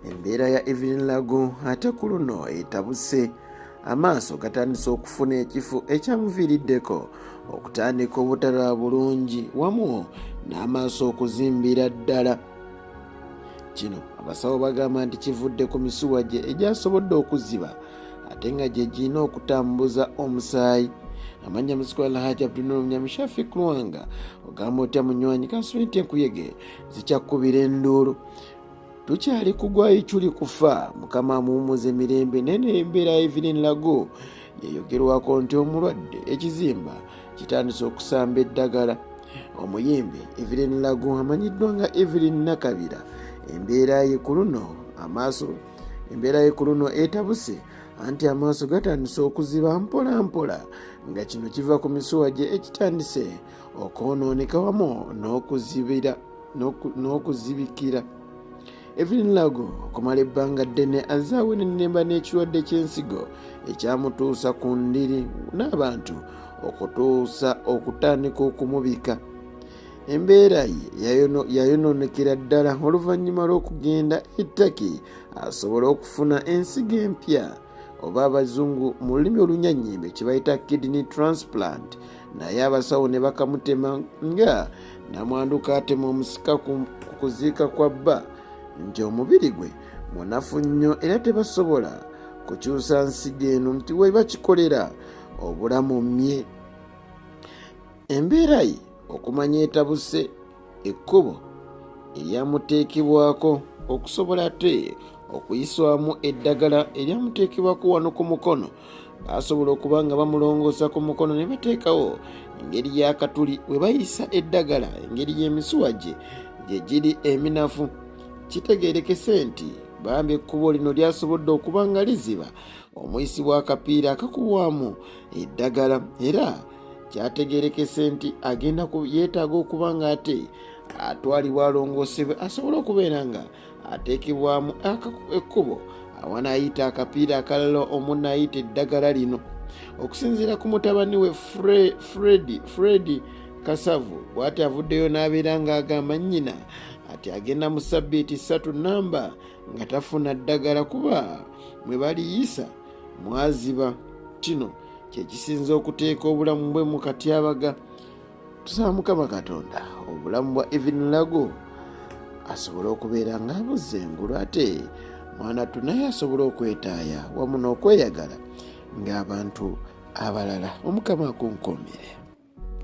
embeera ya evelyn lago ate ku luno etabuse amaaso gatandise okufuna ekifo ekyamuviiriddeko okutandika obutalaba bulungi wamu n'amaaso okuzimbira ddala kino abasawo bagamba nti kivudde ku misuwa gye egyasobodde okuziba ate nga gye girina okutambuza omusaayi amanya muzikwa alhaji abdunulu mnyamishafi kulwanga ogamba otya munywanyi kasubenti enkuyege zikyakubira enduulu tukyali kugwa ichuli kufa mukama amuwumuza emirembe naye nembeera evelin lago yayogerwako nti omulwadde ekizimba kitandise okusamba eddagala omuyimbi evelin lago amanyiddwa nga evelin nakabira embeera ye ku luno amaaso embeera ye ku luno etabuse anti amaaso gatandise okuziba mpola mpola nga kino kiva ku misuwa gye ekitandise eh, okwonooneka wamu n'okuzibira n'okuzibikira evelyn lago okumala ebbanga ddene azze awenenemba n'ekirwadde ky'ensigo ekyamutuusa ku ndiri n'abantu okutuusa okutandika okumubika embeera ye yayonoonekera ddala oluvannyuma lw'okugenda ettaki asobole okufuna ensigo empya oba abazungu mu lulimi olunyanyimbe kye bayita kidney transplant naye abasawo ne bakamutema nga namwandu kaatema omusika ku kuziika kwa bba nti omubiri gwe munafu nnyo era tebasobola kukyusa nsigo eno nti weba kikolera obulamu mye embeera ye okumanya etabuse ekkubo eryamuteekebwako okusobola ate okuyiswamu eddagala eryamuteekebwako wano ku mukono basobola okuba nga bamulongoosa ku mukono ne bateekawo engeri y'akatuli we bayisa eddagala engeri y'emisuwa gye gye giri eminafu kitegeerekese nti bambi ekkubo lino lyasobodde okuba nga liziba omuyisi w'akapiira akakubwamu eddagala era kyategerekese nti agenda yeetaaga okuba nga ate atwalibwa alongoosebwe asobole okubeera nga ateekebwamu ekkubo awanaayita akapiira akalala omunaayita eddagala lino okusinziira ku mutabani we fredi fredi kasavu bwati avuddeyo n'abeera ng'agamba nnyina ati agenda mu sabbiiti ssatu namba nga tafuna ddagala kuba mwe baliyisa mwaziba kino kyekisinza okuteeka obulamu bwe mu katyabaga tusaba mukama katonda obulamu bwa evin lago asobole okubeera nga amuzza engulu ate mwana tu naye asobole okwetaaya wamu n'okweyagala ng'abantu abalala omukama akunkuumire